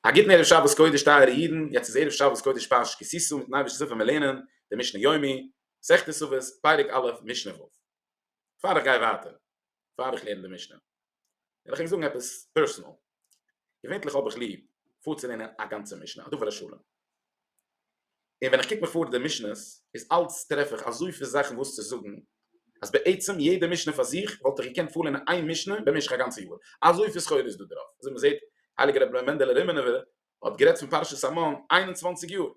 א גוטן ערב שבת קודש טייערע אידן, יעצט איז ערב שבת קודש פרשת כי תשא, מיטן אייבערשטן זיל ווען מיר לערנען די משנה יומי, מסכת סוכות, פרק א', משנה ו'. פאר איך גיי ווייטער, פאר איך לערן די משנה, וויל איך ענק זאגן עפעס פערסענאל. געווענטליך האב איך ליב פארצולערנען א גאנצע משנה, א דבר השלם, און ווען איך קוק מיך פאר די משנות איז אלץ טרעף איך אזויפיל זאכן וואס צו זאגן, אז בעצם יעדע משנה פאר זיך וואלט איך געקענט פארלערנען איין משנה במשך א גאנצע יאר, אזויפיל סחורה איז דא דערויף, אזוי מ'זעט הייליגער רבי מענדעלע רימינובער האט גערעדט פון פרשת המן איין און צוואנציג יאר,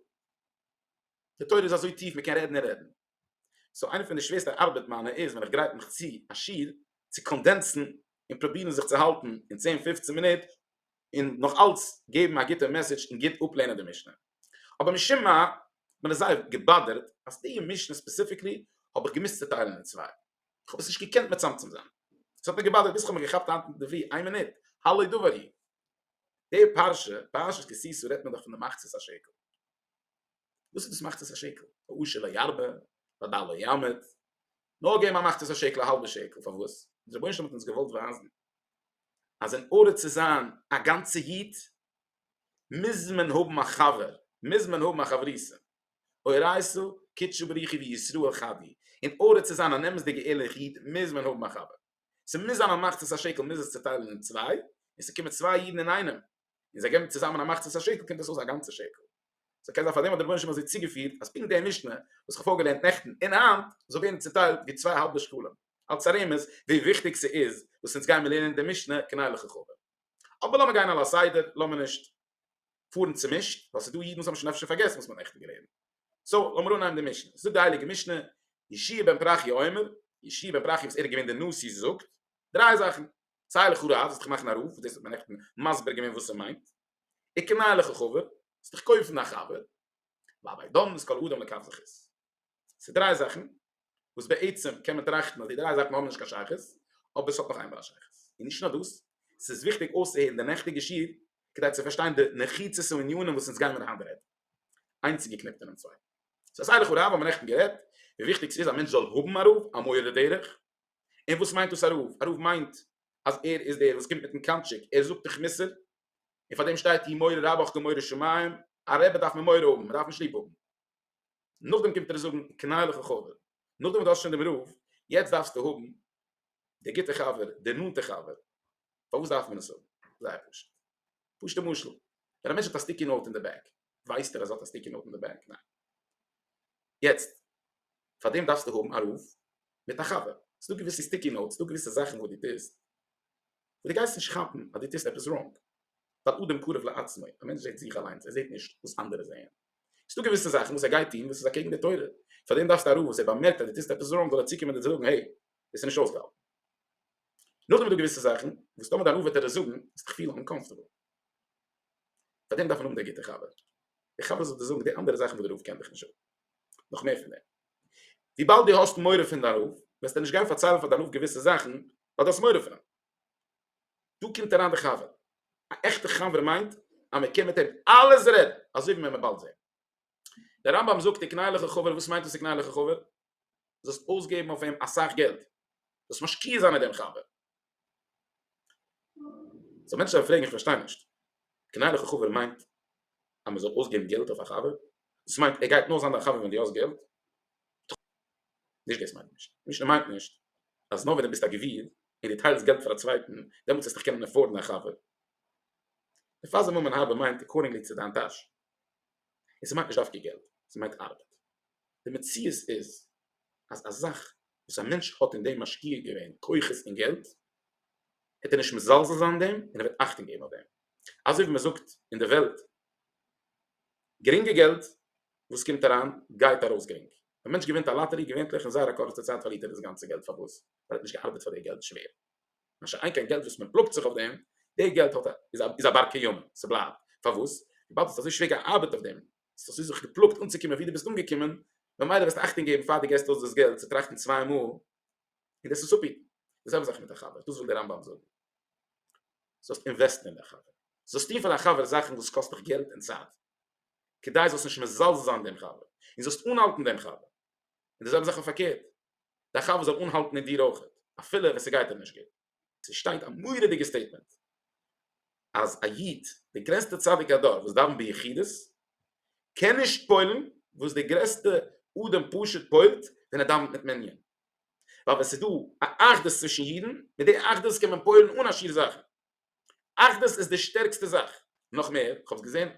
די תורה איז אזוי טיף מ'קען רעדן און רעדן. סאו איינע פון די שווערסטע ארבעט מיינע איז ווען איך גרייט מיך צו א שיעור צו קאנדענסן און פרובירן זיך צו האלטן אין צען פופצן מינוט און נאך אלץ געבן א גוטע מעסעדזש און גוט אפלערנען די משנה. אבער משום מה האט מיר זייער געבאדערט אז די משנה ספעסיפיקלי האב איך געמוזט צוטיילן אין צוויי. איך האב עס נישט געקענט מצמצם זיין. עס האט מיר געבאדערט ביז איך האב מיר געכאפט היינט אינדערפרי איין מינוט הלא דבר הוא. די פרשה, פרשת כי תשא, רעדט מען דאך פון די מחצית השקל. וואס איז דאס מאכט עס א שקל? העושר לא ירבה, והדל לא ימעט, נאר געב מיר מאכט עס א שקל א האלבע שקל, פארוואס? די רבונו של עולם האט אונז געוואלט ווייזן אז אין ארדער צו זיין א גאנצע איד מוז מען האבן א חבר, מוז מען האבן א חברותא, אורייתא קדשא בריך הוא ישראל חדי, אין ארדער צו זיין אן אמת'דיגע ערליכע איד מוז מען האבן א חבר, ס'מוז זיין א מאכט עס א שקל, מוז עס צוטיילן אין צוויי, און ס'קומען צוויי אידן אינאיינעם, און זיי געבן צוזאמען א מחצית השקל קומט עס אויס א גאנצע שקל. סאו קען זיין פאר דעם האט דער רבונו של עולם אזוי צוגעפירט אז פונקט די משנה וואס כ'האב פארגעלערנט נעכטן און היינט זאל ווערן צוטיילט ווי צוויי האלבע שקלים אלץ א רמז ווי וויכטיג ס'איז וואס אונז גיימיר לערנען די משנה כנהוג וככדו'. אבער לאמיר גיין על הסדר, לאמיר נישט פארן צומישט, ווייל ס'איז דא אידן וואס האבן שוין אפשר פארגעסן וואס מ'האט נעכטן געלערנט. סאו לאמיר אנהייבן די משנה. זאגט די הייליגע משנה, ישעי' בן פרחיה אומר, ישעי' בן פרחיה וואס ער איז געווען דער נשיא זאגט דריי זאכן, סיי לכאורה אז וועסט דיך מאכן א רב, וואס דאס האט מען נעכטן מסביר געווען וואס ס'מיינט, וקנה לך חבר, וועסט דיך קויפן א חבר, ואבער דאן איז כל אדם לכף זכות. ס'איז דריי זאכן וואס בעצם קען מען טראכטן אז די דריי זאכן האבן נישט קיין שייכות, אבער ס'האט נאך איין בעל שייכות. און נישט נאר דאס, ס'איז וויכטיג אויסצוהערן די נעכטיגע שיעור כדי צו פארשטיין די נחיצות און ענינים וואס אונז גיימער היינט רעדן. איינס איז געקניפט אינעם צווייטן. סאו סיי לכאורה אז האבן מיר נעכטן גערעדט ווי וויכטיג ס'איז א מענטש זאל האבן א רב, א מורה דרך, און וואס מיינט דאס א רב? א רב מיינט אז ער איז דער וואס קומט מיטן קאנטשיק, ער זאגט דיך מוסר, און פאר דעם שטייט אי מורא רבך כמורא שמים, א רבי דארף מען מורא האבן, מען דארף נישט ליב האבן. נאכדעם קומט ער זאגן קנאי לך חבר, נאכדעם וואס דו האסט שוין דעם רב, יעצט דארפסטו האבן דער גוטער חבר, דער נאנטער חבר. פארוואס דארף מען עס האבן? זייער פשוט. פשוט'ע משל, ווען א מענטש האט א סטיקי נאוט אין די בעג, ווייסט ער אז האט א סטיקי נאוט אין די בענק? ניין. יעצט פאר דעם דארפסטו האבן א רוף מיט א חבר. ס'דא געוויסע סטיקי נאוטס, ס'דא געוויסע זאכן וואס דו טוסט וואס דו גייסט נישט כאפן אז דו טוסט עפעס ראנג. ווייל אדם קרוב לעצמו, א מענטש זעט זיך אליינס, ער זעט נישט וואס אנדערע זעען. ס'דא געוויסע זאכן וואס ער גייט טון וואס איז אקעגן די תורה. פאר דעם דארפסטו א רוף וואס ער באמערקט אז דו טוסט עפעס ראנג זאל ער צוקומען דיר זאגן, העי, דאס איז נישט אויסגעהאלטן. נאכדעם איז דא געוויסע זאכן וואס טאמער דיין רוף וועט דיר עס זאגן, וועסטו דיך פילן אומקאמפארטעבל. פאר דעם דארף מען האבן דער גוטער חבר, דער חבר זאל דיר זאגן די אנדערע זאכן וואס דער רב קען דיך נישט זאגן, נאך מער פון דעם, וויבאלד דו האסט מורא פון דיין רב, וועסטו נישט גיין פארציילן פאר דיין רב געוויסע זאכן, ווייל דו האסט מורא פון אים. דא קומט אריין דער חבר, א עכטער חבר מיינט אז מען קען מיט אים אלעס רעדן, אזוי ווי מען מען באלד זען. דער רמב ם זאגט די קנאיליכע חבר, וואס מיינט עס די קנאיליכע חבר? זאלסט אויסגעבן אויף אים אסאך געלט, זאלסט משקיע זיין אין דעם חבר. סאו מענטשן וועלן פרעגן איך פארשטיי נישט, קנאיליכע חבר מיינט אז מען זאל אויסגעבן געלט אויף א חבר? דאס מיינט ער גייט נאר זיין דיין חבר ווען דו האסט געלט? נישט דאס מיינט נישט, משנה מיינט נישט אז נאר ווען דו ביסט א גביר און דו טיילסט געלט פאר א צווייטן דעמאלטס וועסטו קענען עפארדן א חבר. די פאזע ממון האבן מיינט עקארדינגלי צו דיין טאש. און ס'מיינט נישט דווקא געלט, ס'מיינט ארבעט. די מציאות איז אז א זאך וואס א מענטש האט אין דעם משקיע געווען כוחות און געלט, העט ער נישט מזלזל זיין דעם און ער וועט אכטונג געבן אויף דעם. אזוי ווי מ'זאגט אין די וועלט, גרינגע געלט וואס קומט אריין גייט ארויס גרינג. ווען א מענטש געווינט א לאטערי, געווענטליך אין זייער א קורצע צייט פארלירט ער דאס גאנצע געלט. פארוואס? ווייל ער האט נישט געארבעט פאר די געלט שווער. מה שאין כן געלט וואס מען פלאגט זיך אויף דעם, די געלט האט א איז א בר קיימא, ס'בלייבט, פארוואס? וויבאלד האסט אזוי שווער געארבעט אויף דעם, האסט אזוי זיך געפלאגט אנצוקומען ווי דו ביסט אנגעקומען, ממילא וועסטו אכטונג געבן פאר דו געסט אויס דאס געלט צו טראכטן צוויי מאל, און דאס עס אפהיטן. די זעלבע זאך מיט א חבר, דאס וויל דער רמב ם זאגן. זאלסט אינוועסטן אין דער חבר. זאלסט טון פאר דיין חבר זאכן וואס קאסט דיך געלט און צייט, כדי זאלסט נישט מזלזל זיין דעם חבר, און זאלסט אנהאלטן דעם חבר. און די זעלבע זאך אויף פארקערט. די חבר זאל אנהאלטן מיט דיר אויך אפילו ווען ס'גייט אים נישט גוט. ס'שטייט א מורא'דיגע סטעיטמענט אז א איד, די גרעסטע צדיקי הדור וואס דאווען ביחידות, קען נישט פועל'ן וואס די גרעסטע אדם פשוט פועל'ט ווען ער דאווענט מיט מנין. ווייל ווען ס'איז דא א אחדות צווישן אידן, מיט די אחדות קען מען פועל'ן אן א שיעור זאכן. אחדות איז די שטערקסטע זאך. נאך מער, כ'האב עס געזען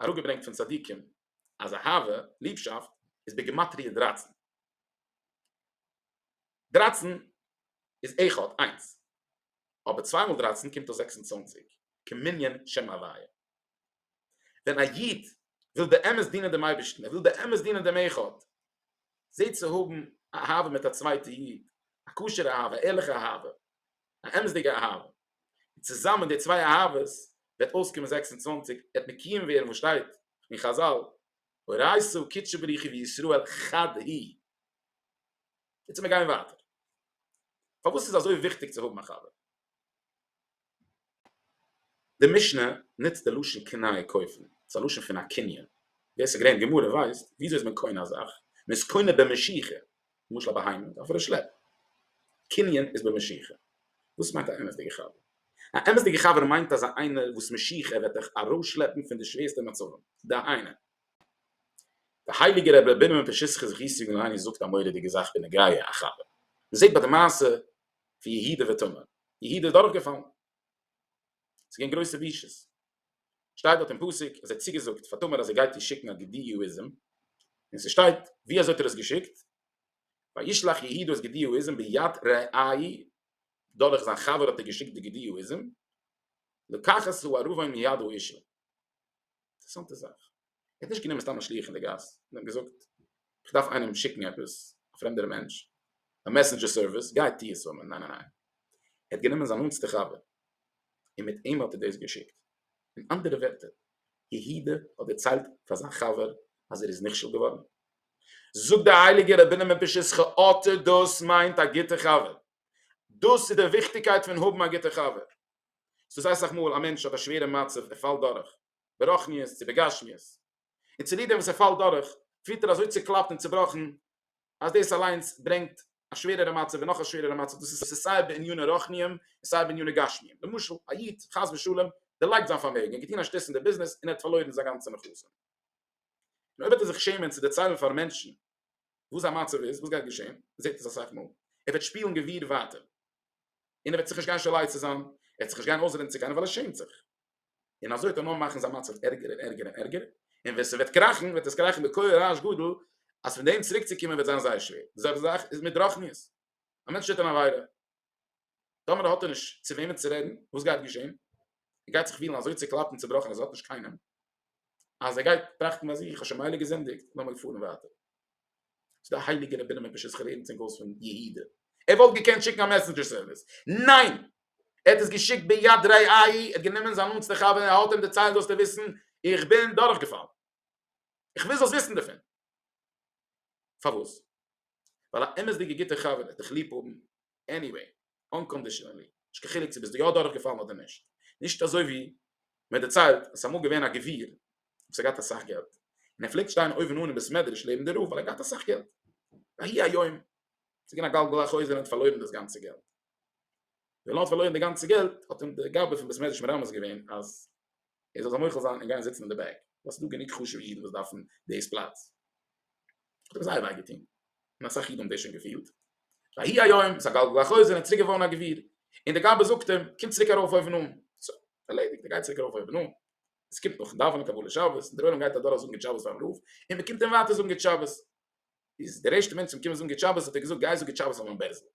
אראפגעברענגט פון צדיקים אז אהבה, ליבשאפט, איז בגימטריא דרײַצן. דרײַצן איז אחד, איינס. אבער צוויי מאל דרייצן קומט אויס זעקס און צוואנציג, כמנין שם הוויה. ווען א איד וויל באמת דינען דעם אייבערשטן, ער וויל באמת דינען דעם אחד, זעט צו האבן א אהבה מיט א צווייטע איד, א כשר'ע אהבה, א ערליכע אהבה, א אמת'דיגע אהבה, און צוזאמען די צוויי אהבות וועט אויסקומען זעקס און צוואַנציק, וועט מקיים ווערן וואס שטייט אין חזל, הורייסו קדשו בריחו וישראל חד הוא. איצט מיר גייען ווייטער. פארוואס איז אזוי וויכטיג צו האבן א חבר? די משנה נוצט די לשון קנייה קויפן, ס'איז א לשון פון א קנין, ווער ס'איז געווען אין גמרא ווייסט וויאזוי איז מען קונה א זאך, מען איז קונה במשיכה, למשל א בהמה מיט אפענע שלעפ. קנין איז במשיכה. וואס מיינט א אמת'דיגע חבר? א אמת'דיגע חבר מיינט אזא איינער וואס משיכה וועט דיך ארויסשלעפן פון די שווערסטע מצבים. דהיינו. דער הייליגער רבי רבינו מפשיסחא זכות יגן עלינו זאגט א מורא'דיגע זאך בנוגע א חבר. מ'זעט ביי די מעשה פון יהודה ותמר. יהודה איז דורכגעפאלן. ס'געווען גרויסע בושות. שטייט דארט אין פסוק אז ער האט צוגעזאגט פאר תמר אז ער גייט איר שיקן א גדי יהואיזם, און ס'שטייט ווי אזוי האט ער עס געשיקט, וישלח יהודה את גדי יהואיזם ביד רעי', דורך זיין חבר האט ער געשיקט די גדי יהואיזם, לקח את הערבה מיד האישה. אינטערעסאנטע זאך. ער האט נישט גענומען סתם א שליח אין די גאס און אים געזאגט איך דארף איינעם שיקן עפעס א פרעמדער מענטש א מעסענדזשער סערוויס גיי טוה עס פאר מיר ניין ניין ניין ער האט גענומען זיין נאנטסטע חבר און מיט אים האט ער דאס געשיקט אין אנדערע ווערטער יהודה האט דערציילט פאר זיין חבר אז ער איז נכשל געווארן זאגט דער הייליגער רבינו מפשיסחא אטע דאס מיינט א גוטע חבר דאס איז די וויכטיגקייט פון האבן א גוטע חבר ס'איז אסאך מאל א מענטש האט א שווערע מצב ער פאלט דורך ברוחניות צו בגשמיות, און צוליב דעם וואס ער פאלט דורך, פירט ער אזוי צוקלאפט און צובראכן, אז דאס אליינס ברענגט א שווערערע מצב און נאך א שווערערע מצב, דאס איז סיי בעניני רוחניים און סיי בעניני גשמיים, למשל, א איד, חס ושלום, דערלייגט זיין פארמעגן, ער האט געטון א שטות אין דער ביזנעס און ער האט פארלוירן זיין גאנצע נכסים, און אויב וועט ער זיך שעמען צו דערציילן פאר מענטשן וואס זיין מצב איז, וואס גייט געשען, מען זעט עס אסאך מאל, ער וועט שפילן גביר ווייטער, און ער וועט זיך נישט גיין שולח צו זיין, ער וועט זיך נישט גיין אויסרעדן צו קיינעם ווייל ער שעמט זיך. און אזוי האט ער נאר מאכן זיין מצב ערגער און ערגער און ערגער, און ווען ס'וועט קראכן וועט עס קראכן בכח רעש גדול, אז פון דעם צוריק צו קומען וועט זיין זייער שווער, די זעלבע זאך איז מיט רחניות, א מענטש טוט אן עבירה, טאמער האט ער נישט צו וועמען צו רעדן, וואס גייט געשען? ער גייט זיך פילן אזוי צוקלאפט און צובראכן אז ער האט נישט קיינעם, אז ער גייט טראכטן ביי זיך, איך האב שוין מילא געזינדיגט, לאמיר פארן ווייטער. ס'איז דא הייליגע רבנים מפרשת חרדים צום גאוס פון יהודה, ער וואלט געקענט שיקן א מעסענדזשער סערוויס, ניין! ער האט עס געשיקט ביד רעי א י, ער האט גענומען זיין נאנטסטע חבר און ער האט אים דערציילט זאלסטו וויסן איך בין דורכגעפאלן, איך וויל זאלסט וויסן דערפון. פארוואס? ווייל א אמת'דיגע גוטע חבר וועט דיך ליב האבן עניוועי, אנקאנדישאנעלי, נישט קיין חילוק צו ביסט דו יא דורכגעפאלן אדער נישט. נישט אזוי ווי מען דערציילט אז ס'אמאל געווען א גביר וואס האט געהאט אסאך געלט, און ער פלעגט שטיין אויבן אן אין בית מדרש לעבן די רב ווייל ער האט געהאט אסאך געלט, ויהי היום, ס'איז געווען א גלגל החוזר און ער האט פארלוירן דאס גאנצע געלט. ווען ער האט פארלוירן די גאנצע געלט האט אים די גאבע פון בית מדרש מרמז געווען אז ער זאל זיי מוחל זיין און גיין זיצן אין די בעק ווייל ס'איז דא גענוג חשוב'ע אידן וואס דארפן דאס פלאץ. האט אים זייער וויי געטון און אסאך אידן האבן דאס שוין געפילט. ויהי היום איז א גלגל החוזר און צוריק געווארן א גביר און די גאבע זאגט אים קום צוריק ארויף אויבן אן. סא, ערלעדיגט ער גייט צוריק ארויף אויבן אן. עס קומט נאכן דאווענען קבלת שבת און דער עולם גייט אדורך זאגן גוט שבת פארן רב און מען קומט אים ווייטער זאגן גוט שבת. איז דער ערשטער מענטש צו אים קומען זאגן גוט שבת האט ער געזאגט גיי זאג גוט שבת פאר מיין בערזל.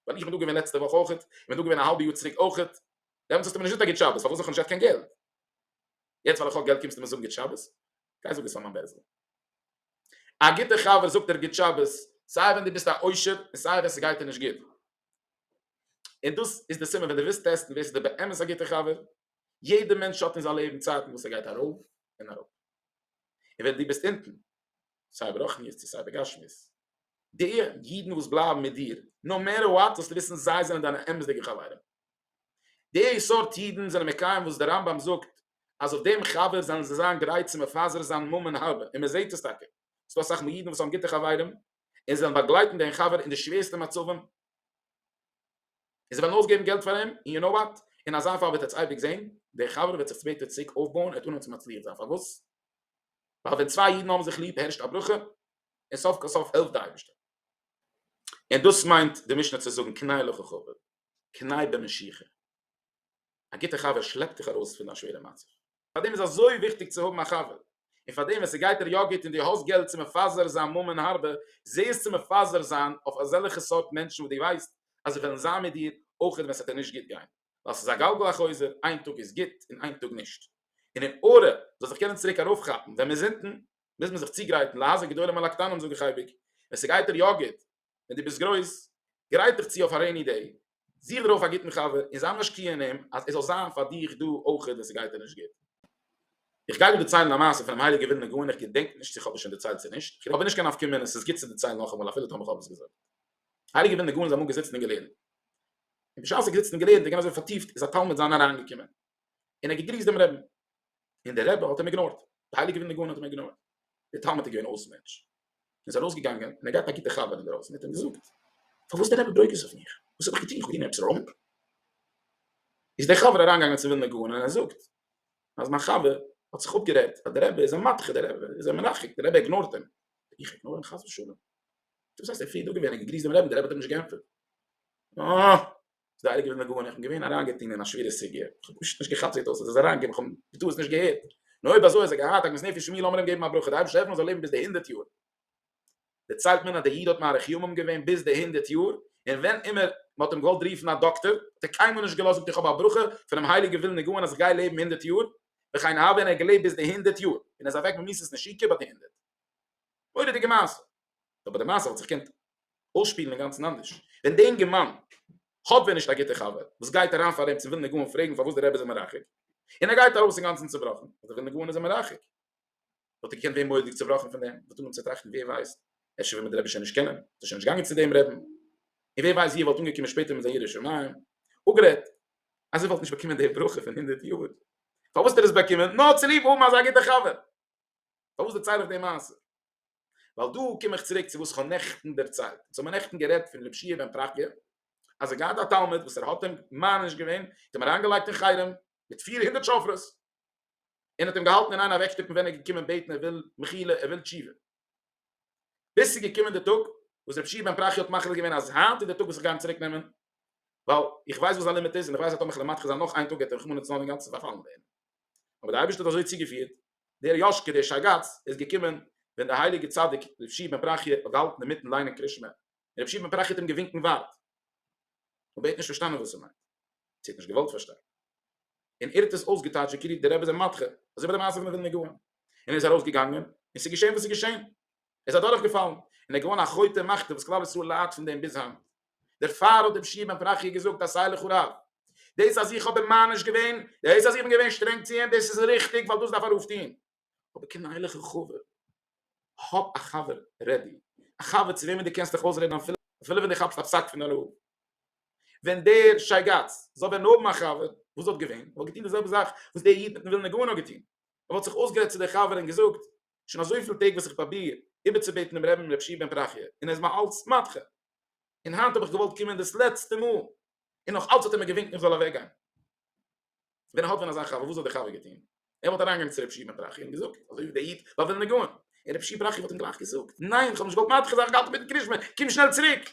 ווייל איך בין דא געווען לעצטע וואך אויכעט, איך בין דא געווען א האלבע יאר צוריק אויכעט, דעמאלטס האסטו מיר נישט געזאגט א גוט שבת, פארוואס זיך האב נישט געהאט קיין געלט? יעצט ווייל איך האב געלט קומסטו מיר זאגן גוט שבת? גיי זאג עס פאר מיין בעל זאגן. א גוטער חבר זאגט דיר גוט שבת, סיי ווען דו ביסט א עושר און סיי ווען ס'גייט דיר נישט גוט. און דאס איז די סימן ווען דו ווילסט טעסטן ווער ס'איז דיר באמת א גוטער חבר, יעדער מענטש האט אין זיין לעבן צייטן וואס ער גייט ארויף און אראפ. און ווען דו ביסט אונטן, סיי ברוחניות צו סיי בגשמיות, די אידן וואס בלייבן מיט דיר, נאו מעטער וואט, זאלסטו וויסן זיי זענען דיינע אמת'דיגע חברים, די סארט אידן זענען מקיים וואס דער רמב ם זאגט אז אויף דעם חבר זאלן זיי זיין גרייט צו מפזר זיין ממון הרבה, און מען זעט עס טאקע, עס איז דא אסאך מאל אידן וואס האבן גוטע חברים און זיי וועלן באגלייטן דעם חבר אין די שווערסטע מצבים, און זיי וועלן אויסגעבן געלט פאר אים, און יו נאו וואט, אין אזא פאל וועט עטס אייביג זען, דער חבר וועט זיך ספעטער צוריק אויפבויען, ער וועט אנהייבן צו מצליח זיין, פארוואס? ווייל ווען צוויי אידן האבן זיך ליב הערשט א ברכה און סוף כל סוף העלפט די אייבערשטער און דאס מיינט די משנה צו זאגן קנאי לך חבר קנאי במשיכה א גוטע חבר שלעפט דיך ארויס פון א שווערע מצב פארדעם איז אזוי וויכטיג צו האבן א חבר און פארדעם ווען ס'גייט דיר יא גוט און דו האסט געלט צו מפזר זיין ממון הרבה זע עס צו מפזר זיין אויף אזעלכע סארט מענטשן וואס דו ווייסט אז זיי וועלן זיין מיט דיר אויך ווען ס'וועט דיר נישט גוט גיין. ווייל ס'איז א גלגל החוזר, איין טאג איז גוט און איין טאג נישט, און אין ארע מ'זאל זיך קענען צוריק ארויפכאפן ווען מ'איז אונטן, מוז מען זיך צוגרייטן, להזהר גדולים על הקטנים זאג איך אייביג, ווען ס'גייט דיר יא גוט, ווען דו ביסט גרויס, גרייט דיך צו אויף א רעיני דעי, זוך דיר אויף א גוטן חבר און זיי משקיע אין אים אז עס זאל זיין פאר דיך דא אויכעט ווען ס'גייט דיר נישט גוט. איך גיי דא דערציילן א מעשה פונעם הייליגער ווילנער גאון איך געדענק נישט צו כ'האב עס שוין דערציילט צו נישט, כ'האב נישט קיין נפקא מינה, ס'איז גוט צו דערציילן נאכאמאל אפילו טאמער כ'האב עס געזאגט. הייליגער ווילנער גאון איז אמאל געזיצן און געלערנט. און בשעת ער האט געזיצן און געלערנט און געווען אזוי פארטיפט איז א תלמיד זיינער אריינגעקומען און ער האט געגריסט דעם רעבען און דער רעבע האט אים איגנארט די הייליגע ווילנע גאון האט אים איגנארט דער תלמיד איז געווען אויס מענטש און איז ארויסגעגאנגען און ער האט געהאט א גוטע חבר אינדערויסן האט אים געזאגט פארוואס דער רעבע ברוגז אויף מיך וואס האב איך געטון איך האב געטון עפעס ראנג איז דער חבר אריינגעגאנגען צום ווילנע גאון און ער זאגט אז מיין חבר האט זיך אפגערעדט אז דער רעבע איז אים מדחה דער רעבע איז אים מרחק דער רעבע איגנארט אים איך איגנאר אים חס ושלום דאס הייסט ער פריער דא געווען און געגריסט דעם רעבען דער רבי האט אים נישט געענטפערט אה איז דער הייליגער מגן איך בין געווען אריינגעטוהן אין א שווערע סוגיא איך האב פשוט נישט געכאפט ווי דאס איז אריינגעקומען איך האב בטעות נישט געהערט נו אויב אזוי אז ער געהאט עגמת נפש מי לאמיר אים געבן א ברכה דער אייבערשטער העלפן ער זאל לעבן ביז די הונדערט יאר דערציילט מען אז דער איד האט מאריך ימים געווען ביז די הונדערט יאר און ווען אימער מען האט אים געוואלט רופן א דאקטער האט ער קיינמאל נישט געלאזט זאגט איך האב א ברכה פונעם הייליגער ווילן נגעון אז איך גיי לעבן הונדערט יאר וכן הלאה און ער האט געלעבט ביז די הונדערט יאר און ער איז אוועק ממיתת נשיקה ביי די הונדערט מורא'דיגע מעשה. אבער די מעשה האט זיך געקענט אויסשפילן אינגאנצן אנדערש, ווען די אינגערמאן האט ווען נישט א גוטע חבר וואס גייט אריין פאר אים צו ווילן נגעון פרעגן פארוואס די רבי איז אים מרחק, און ער גייט ארויס אינגאנצן צובראכן אז וויל נגעון איז אים מרחק, וואלט ער געקענט ווערן מורא'דיג צובראכן פון דעם, וואלט אנגעהויבן צו טראכטן ווער ווייסט, אפשר וויל מיר די רבי שוין נישט קענען, איז ער שוין נישט געגאנגען צו דעם רעבן, און ווער ווייסט ווי ער וואלט אנגעקומען שפעטער מיט זיין ירא שמים, אפגערעדט אז ער וואלט נישט באקומען די ברכה פון הונדערט יאר, פארוואס האט ער עס באקומען? נאר צוליב האבן אזא גוטע חבר. פארוואס דערצייל איך די מעשה? ווייל דא קום איך צוריק צו וואס כ'האב נעכטן דערציילט, אונז האבן נעכטן גערעדט פון רב שי' בן פרחיה, אז ער האט געהאט א תלמיד וואס ער האט אים מעניש געווען, האט אים אריינגעלייגט אין חרם מיט פיר הונדערט שופרות, און האט אים געהאלטן אין איין אוועקשטופן ווען ער איז געקומען בעטן ער וויל מחילה ער וויל תשובה, ביז ס'איז געקומען די טאג וואס רב שי' בן פרחיה האט מחליט געווען אז היינט איז די טאג וואס איך גיי אים צוריק נעמען, ווייל איך ווייס וואס זיין לימיט איז און איך ווייס אז טאמער כ'וועל מטכס זיין נאך איין טאג גייט ער רחמנא לצלן אינגאנצן פארפאלן ווערן, אבער די אייבערשטער האט אזוי צוגעפירט דער יאש כ דער שייגאץ איז געקומען ווען דער הייליגער צדיק ר' שי' בן פרחיה האט געהאלטן אינמיטן ליינען קרית שמע און ר' שי' בן פרחיה האט אים געווינקן ווארט אבער ער האט נישט פארשטאנען וואס ער מיינט צו ער האט נישט געוואלט פארשטיין און ער האט עס אויסגעטייטשט ווי כאילו דער רבי איז א מדחה אזוי ווי די מעשה פון די ווילנער גאון און ער איז ארויס געגאנגען און ס'איז געשען וואס ס'איז געשען ער איז אדורך געפאלן און ער איז געווארן א חוטא מחטא וואס כלל ישראל ליידט פון דעם ביז היינט. דערפאר האט דער פשי בן פרחיה געזאגט אז סיי לכו רב דאס אז איך האב אים מעניש געווען, דאס אז איך בין געווען שטרענג צו אים, דאס איז ריכטיג ווייל דאס דארף א רב טון, אבער קום איין לכו רב, האב א חבר רעדי, א חבר צו וועמען דו קענסט דיך אויסרעדן אפילו ווען דו כאפסט א פסק פון א רב, ווען דער שייגאץ זאל ווען האבן א חבר וואס האט געווען, וואלט געטון די זעלבע זאך וואס דער איד מיטן ווילנער גאון האט געטון, ער וואלט זיך אויסגערעדט צו דער חבר און געזאגט, שוין אזויפיל טעג וואס איך פראביר איבערצובעטן דעם רעבען רב פשי בן פרחיה און ער איז מיר אלץ מדחה. און היינט האב איך געוואלט קומען דאס לעצטע מאל, און נאך אלץ האט ער מיר געווינקט איך זאל אוועק גיין. ווען ער האלט ווען אזא חבר, וואס זאל דער חבר געטון? ער וואלט אריין געגאנגען צו רב שמעון בראכי און געזאגט, אזוי ווי דער איד ביי ווילנע גאון, און רב שמעון בראכי וואלט אים גלייך געזאגט, ניין, איך האב נישט געוואלט מדחה זיין, איך האב געהאלטן מיטן קרישמע, קום שנעל צוריק.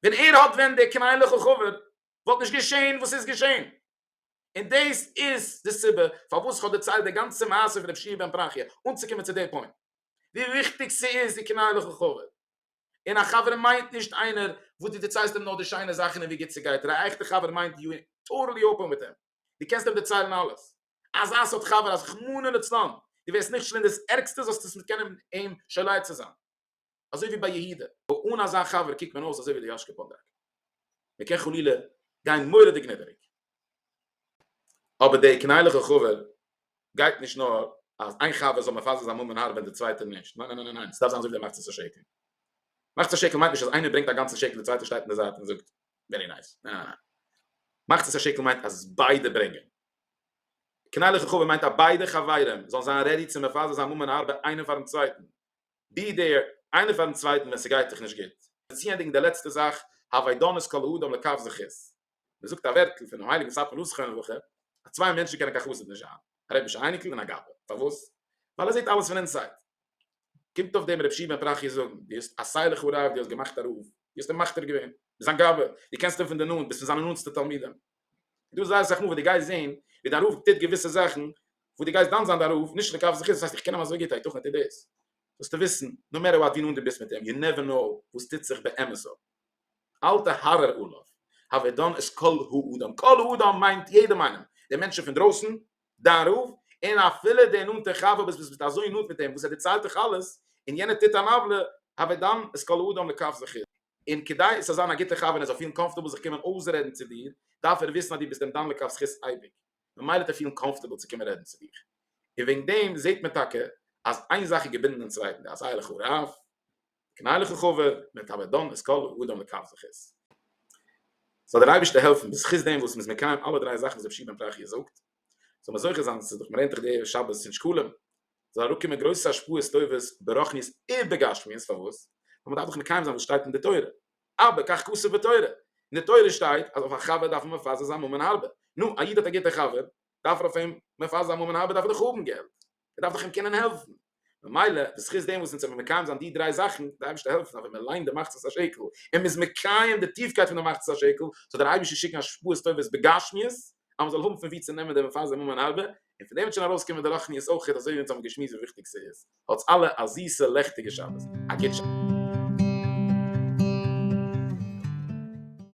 ווען ער האט ווען דער קנאיליכער חבר, וואלט נישט געשען וואס ס'איז געשען. און דאס איז די סיבה פארוואס איך האב דערציילט די גאנצע מעשה פון רב שמעון בן בראכי, אנצוקומען צו דער פוינט, ווי וויכטיג ס'איז די קנאיליכער חבר. און א חבר מיינט נישט איינער וואס דו דערציילסט אים נאר די שיינע זאכן און ווי גוט ס'גייט דיר, א עכטע חבר מיינט יו טאטעלי אפען מיט אים, דו קענסט אים דערציילן אלעס, אזא סארט חבר אז רחמנא לצלן דו ווערסט נכשל אין דאס ערגסטע זאלסטו עס מיט קענען אים שולח צו זיין, אזוי ווי ביי יהודה. אן אזא חבר קוקט מען אויס אזוי ווי די יאשקע פאנדראק. מען קען חלילה גיין מורא'דיג נידעריג, אבער די קנאיליכע חבר גייט נישט נאר אז איין חבר זאל מפזר זיין ממון הארבען די צווייטע נישט, ניין ניין ניין ניין, ס'דארף זיין אזוי ווי דער מחצית השקל, מחצית השקל מיינט נישט אז איינער ברענגט א גאנצע שקל די צווייטער שטייט אין די זייט און זאגט ווערי נייס, ניין ניין ניין, מחצית השקל מיינט אז ביידע ברענגען, קנאיליכע חבר מיינט אז ביידע חברים זאלן זיין רעדי צו מפזר זיין ממון הארבען איינער פארן צווייטן, בי ד איינער פארן צווייטן ווען ס'גייט זיך נישט גוט. באציענדיג די לעצטע זאך, הווי דנות כל האדם לכף זכות, מען זאגט א ווערטל פונעם הייליגן ספר נוסח חן הלכה, אז צוויי מענטשן קענען קיין חסיד נישט זיין, א רבישע אייניקל און א גאבע, פארוואס? ווייל ער זעט אלעס פון אינסייד. קומט אויף דעם ר' פשי' בן פרחיה זאגן, דו האסט א סיי לחרב, דו האסט געמאכט א רב, דו האסט אים מכתיר געווען, ביסט זיין גאבע, דו קענסט אים פון די נאנט, ביסט פון זיינע נאנטסטע תלמידים, דא איז זייער אסאך מאל וואס דו גייסט זען ווי דיין רב טוט געוויסע זאכן וואס דו גייסט דן זיין דיין רב נישט נקב זכות, דאס הייסט איך קען אים אזוי גוט הייתכן ער טוט דאס? זאלסטו וויסן נאו מעטער וואט ווי נאנט דו ביסט מיט אים יו נעווער נאו וואס טוט זיך באמת אפ אלטע הארר עליו הווי דן איז כל האדם, כל האדם מיינט יעדעם איינעם, די מענטשן פון דרויסן, דיין רב, און אפילו די נאנטע חבר וואס ביסט אזוי נאנט מיט אים וואס ער דערציילט דיך אלעס און יענער טוט אן עוולה הווי דן איז כל האדם נקב זכות. און כדי עס זאל זיין א גוטע חבר און ער זאל פילן קאמפארטעבל זיך קומען אויסרעדן צו דיר, דארף ער וויסן אז דו ביסט אים דן לכף זכות אייביג, ממילא וועט ער פילן קאמפארטעבל צו קומען רעדן צו דיך. און וועגן דעם זעט מען טאקע אז איין זאך איז געבינדן דעם צווייטן, דער עשיה לך רב, קנה לך חבר, ווען טאמער דן את כל האדם לכף זכות. זאל דער אייבערשטער העלפן בזכות דעם וואס מ'איז מקיים אלע דריי זאכן וואס רבי שמעון בן תחי' זאגט, זאל מען זוכה זיין צו זיך מרענן תוך די ערב שבת אין שקלים, זאל אראפקומען גרויסע השפעות טובות ברוחניות ובגשמיות, פארוואס? ווייל מען דארף דאך מקיים זיין וואס שטייט אין די תורה, ארבע כך כתוב בתורה, אין די תורה שטייט אז אויף א חבר דארף מען מפזר זיין ממון הרבה, נו, א איד האט א גוטע חבר, דארף ער אויף אים מפזר זיין ממון הרבה, דארף ער דאך האבן געלט, ער דארף דאך אים קענען העלפן, ממילא בזכות דעם וואס אונז זעמיר מקיים זיין די דריי זאכן, די אייבערשטער העלפט אונז אז ווען מען ליינט די מחצית השקל און מען איז מקיים די טיפקייט פון די מחצית השקל, זאל דער אייבערשטער שיקן השפעות טובות בגשמיות אז מען זאל האבן פון וואו צו נעמען די מפזר ממון הרבה, און פון דעם וועט שוין ארויסקומען די רוחניות אויכעט אזוי ווי אונז האבן געשמועסט ווי וויכטיג ס'איז. האטס אלע א זיסע לעכטיגע שבת. א גוט שבת.